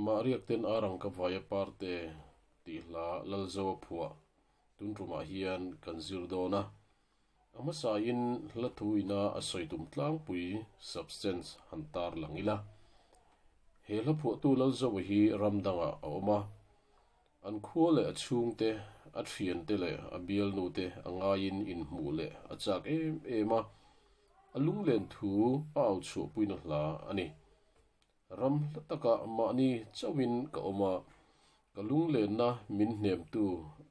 Mah riakten a rang ka vai a par te tih hla lal zo a phuah. Tun tumah hian kan zir dawn a. A hmasa in hla thu ina a sawi tum tlangpui substance han tar lang ila. He hla phuahtu lal zo hi ram dangah a awm a. An khua leh a chhungte, a thiante leh a bialnute a ngaiin inhmuh leh a chak em em a, a lunglen thu a au chhuah puina hla a ni. Ram hla taka mahni chauhin ka awm a, ka lunglenna min hnemtu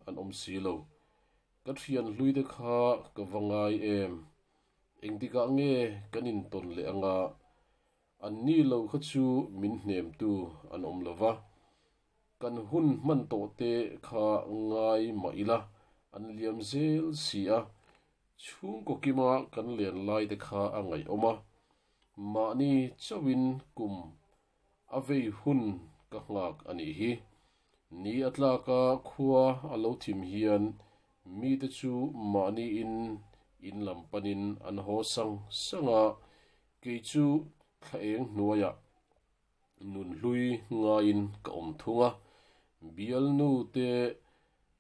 an awm si lo. Ka thian hluite kha ka va ngai em? Engtikah nge kan intawn leh anga? An ni lo kha chu min hnemtu an awm lo va, kan hun hman tawh te kha ngai mah ila an liam zel si a, chhungkaw kima kan len lai te kha a ngaihawm a, mahni chauhin kum a vei hun ka nghak a nih hi. Ni a tlak a khua a lo thim hian mite chu mahniin in lam panin an haw sang sang a, Kei chu thla eng hnuaia nun hlui ngaiin ka awm thung a, bialnu te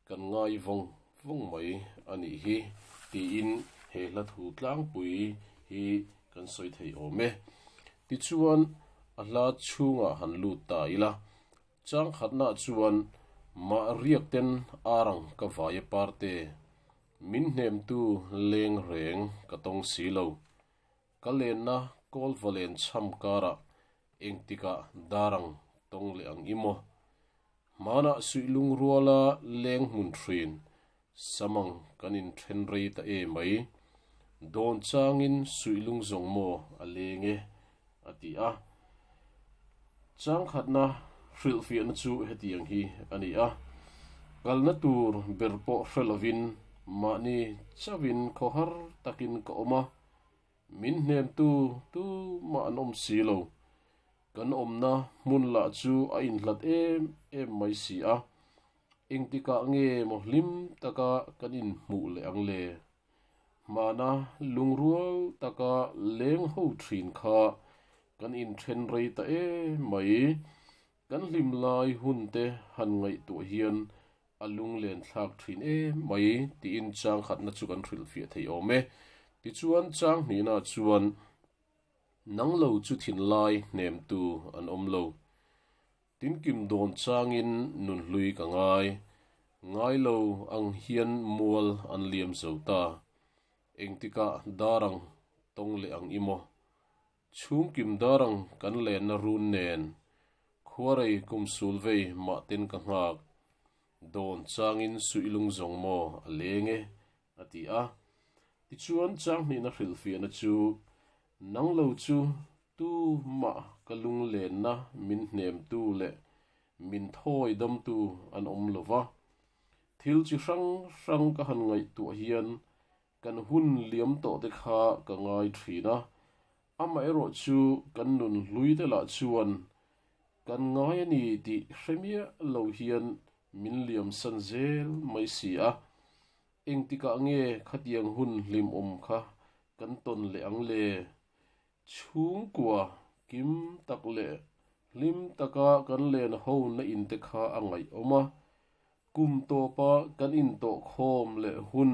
kan ngai vawng vawng mai a nih hi tiin he hla thu tlangpui hi kan sawi thei awm e. Tichuan a hla chhungah han lut ta ila, changkhatnah chuan mah riakten arang ka vai a par te, min hnemtu lengreng ka tawng si lo. Ka lenna kawl valen chham kara engtika dar ang tawng leh ang i maw? Hmana suihlung ruala leng hmun hrin samang kan in then rei ta e mai. Dawn changin suihlung zawng maw a leng e a ti a. Changkhatna hrilhfiahna chu hetiang hi a ni a, kalna tur ber pawh hre lovin mahni chauhin khaw har takin ka awm a, min hnemtu tu mah an awm si lo, kan awmna hmun lah chu a inhlat em em mai si a, engtikah nge maw hlim taka kan inhmuh leh ang le? Hmana lung rual taka leng ho thin kha kan in then rei ta e mai. Kan hlim lai hun te han ngaihtuah hian a lung len thlak thin e mai tiin chang khatna chu kan hrilh fiah thei awm e. Tichuan chang hnihna chuan nanglo chu thinlai hnem tu an awm lo. Tin kim dawn changin nun hlui ka ngai. Ngai lo ang hian mual an liam zo ta. Engtika darang tawng leh ang i maw? Chhum kim darang kan lenna run nen khuarei kum sul vei mahten ka nghak. Dawn changin suihlung zawng maw a leng e A ti a. Tichuan Changhnihna hrilhfiahna chu, Nang lo chu tu mah ka lunglenna min hnemtu leh min thawi damtu an awm lo va. Thil chi hrang hrang ka han ngaihtuah hian kan hun liam tawhte kha ka ngai thin a, Amaherawh chu kan nun hlui te lah chuan kan ngai a ni tih hre miah lo hian min liamsan zel mai si a, engtikah nge khatiang hun hlimawm kha kan tawn leh ang le? Chhungkua kim tak leh hlim taka kan lenho na in te kha a ngaihawm a, kum tawpa kan intawhkhawm leh hun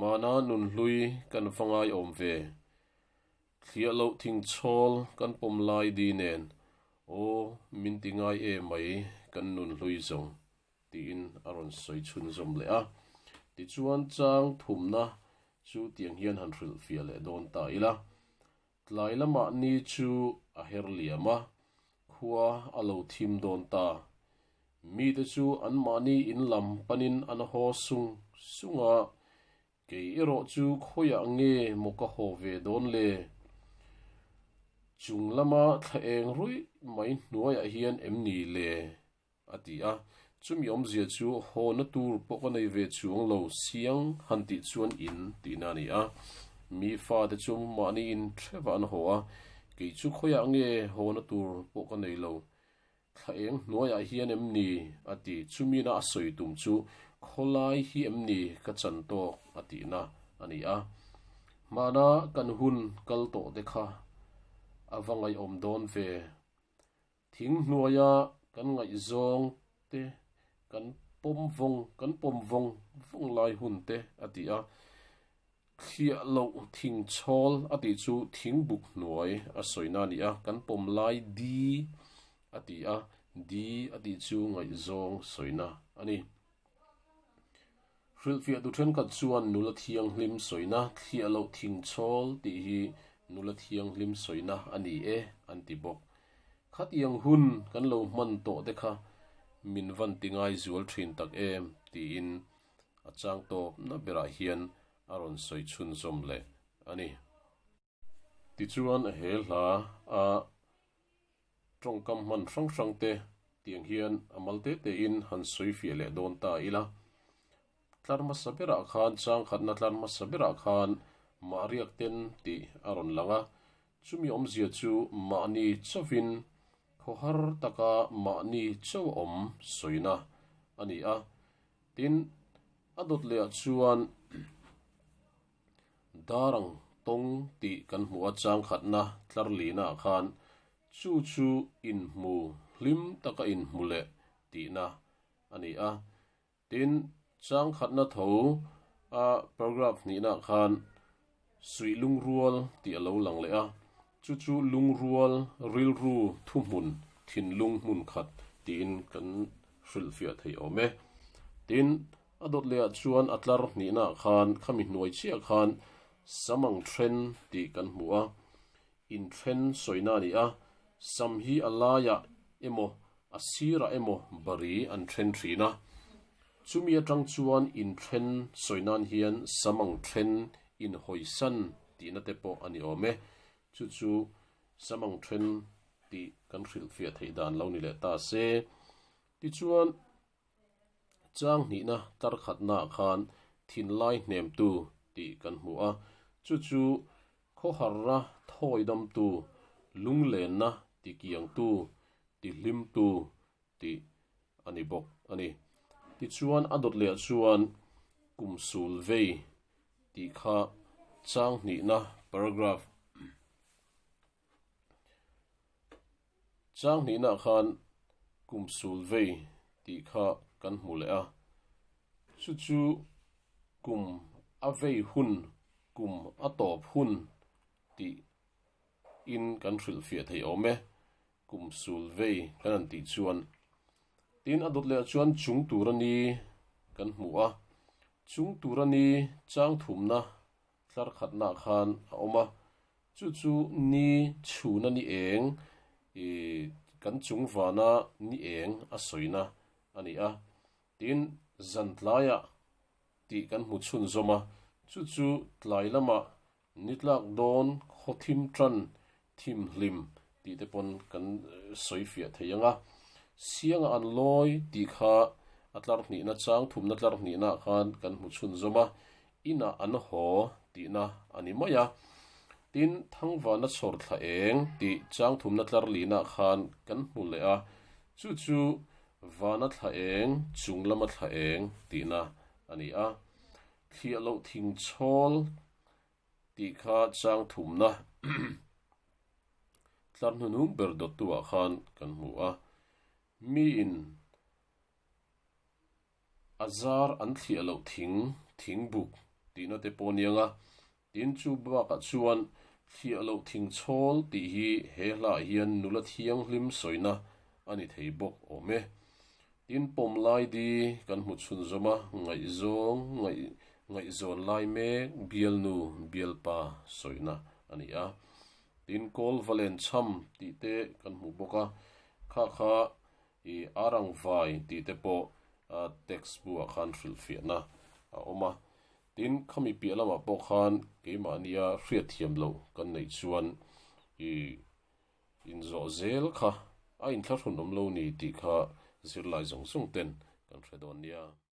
Mahna nunhlui kan va ngaiawm ve. Thliah loh thing chawl kan pawm lai di nen aw min ti ngai e mai kan nunhlui zawng, tiin a rawn sawi chhunzawm leh a. Tichuan chang thumna chu tiang hian han hrilhfiah leh dawn ta ila. Tlai lama ni chu a her liam a, khua a lo thim dawn ta. Mite chu anmahni in lam panin an haw sung sung a, kei erawh chu khawiah nge maw ka haw ve dawn le? Chung lama thlaeng ruih mai hnuaiah hian em ni le? A ti a, chumi awmzia chu hawna tur pawh ka nei ve chuang lo siang han tih chuan in tihna a ni a. Mi fate chu mahni in hrevah an haw a, kei chu khawiah nge hawna tur pawh ka nei lo, thla eng hnuaiah hian em ni? a ti. Chumina a sawi tum chu khawlai hi em ni ka chan tawk a tihna a ni a. Hmana kan hun kal tawhte kha a va ngaihawm dawn ve. Thing hnuaia kan ngaihzawng te, kan pawm vawng, kan pawm vawng vawng lai hun te a ti a. Thliah loh thing chhawl a tih chu thing buk hnuai a sawina a ni a, kan pawm lai di a ti a, di a tih chu ngaihzawng sawina a ni. Hrilhfiahtu ṭhenkhat chuan nula thianghlim sawina thliah loh thing chawl tih hi nula thianghlim sawina a ni e an ti bawk. Khatiang hun kan lo hman tawh te kha min van ti ngai zual ṭhin tak em tiin a chang tawp na berah hian a rawn sawi chhunzawm leh a ni. Tichuan a he hla a tawngkam hman hrang hrangte tiang hian a mal te tein han sawi fiah leh dawn ta ila. Tlar hmasa berah khan chang khatna tlar hmasa berah khan mahriak ten tih a rawn lang a, chumi awmzia chu mahni chauhin khaw har taka mahni chau awm sawina a ni a. Tin, a dawt lehah chuan. Darang tawng tih kan hmu a changkhatna tlarlihnaah khan chu chu inhmu hlim taka inhmu leh tihna a ni a. Tin, changkhatna tho a paragraph hnihnaah khan suih lungrual tih a lo lang leh a, chu chu lungrual rilru thuhmun thinlung hmunkhat tiin kan hrilhfiah thei awm e. Tin, A dawt leh ah chuan a tlar hnih naah khan khami hnuai chiah khan sam ang ṭhen tih kan hmu a, in ṭhen sawina a ni a, sam hi a laiah emaw a sirah emaw bari an ṭhen ṭhin a. Chumi aṭang chuan in ṭhen sawi nan hian sam ang ṭhen in hawisan tihna te pawh a ni awm e. Chu chu sam ang ṭhen tih kan hrilh fiah theih dan lo ni leh ta se. Tichuan Changhnihna tarkhatnaah khan thinlai hnemtu tih kan hmu a, chu chu khawharna thawidamtu, lunglenna tikiangtu, tihlimtu tih a ni bawk a ni. Tichuan a dawt leh chuan kum sul vei tih kha changhnihna paragraph. Chang hnihna khan kum sul vei tih kha kan hmu leh a, chu chu kum a vei hun, kum a tawp hun tih in kan hrilh fiah thei awm e, kum sul vei kan han tih chuan. Tin a dawt leh ah chuan chung tur a ni kan hmu a, chung tur a ni chang thumna tlar khatna khan a awm a, Chu chu ni chhun a ni eng, i kan chung vana ni eng a sawina a ni a, tin Zantlaiah a tih kan hmu chhun zawm a, chu chu tlai lamah nitlak dawn khawthim tan thim hlim tih te pawn kan sawi fiah thei ang a, sianga an lawi tih kha a tlarhnihna chang thumna tlarhnihnaah khan kan hmu chhun zawm a, Inah an haw tihna a ni mai a. Tin, Thangvana chhawr thla eng tih changthumna tlar linah khan kan hmu leh a, chu chu vana thla eng, chung lama thla eng tihna a ni a. Thliah loh thing chhawl tih kha changthumna tlar hnunung ber dawttuah khan kan hmu a. Miin A zar an thliah loh thing, thing buk, tihna te pawh ni anga, tin chu bakah chuan thliah loh thing chawl tih hi he hlahah hian nula thianghlim sawina a ni thei bawk awm e. Tin pawm laidi kan hmu chhunzawm a, ngaihzawng, ngaih, ngaihzawn lai mek bialnu, bialpa sawina a ni a. Tin kawl va len chham tih te kan hmu bawk a, khakha I a rangvai tih te pawh a text bulah khan hrilhfiahna a awm a, tin khami piah lamah pawh khan keimahnia hriatthiam lo kan neih chuan i inzawh zel kha a inthlahrun awm lo ni tih kha zirlai zawng zawng ten kan hre dawn nia.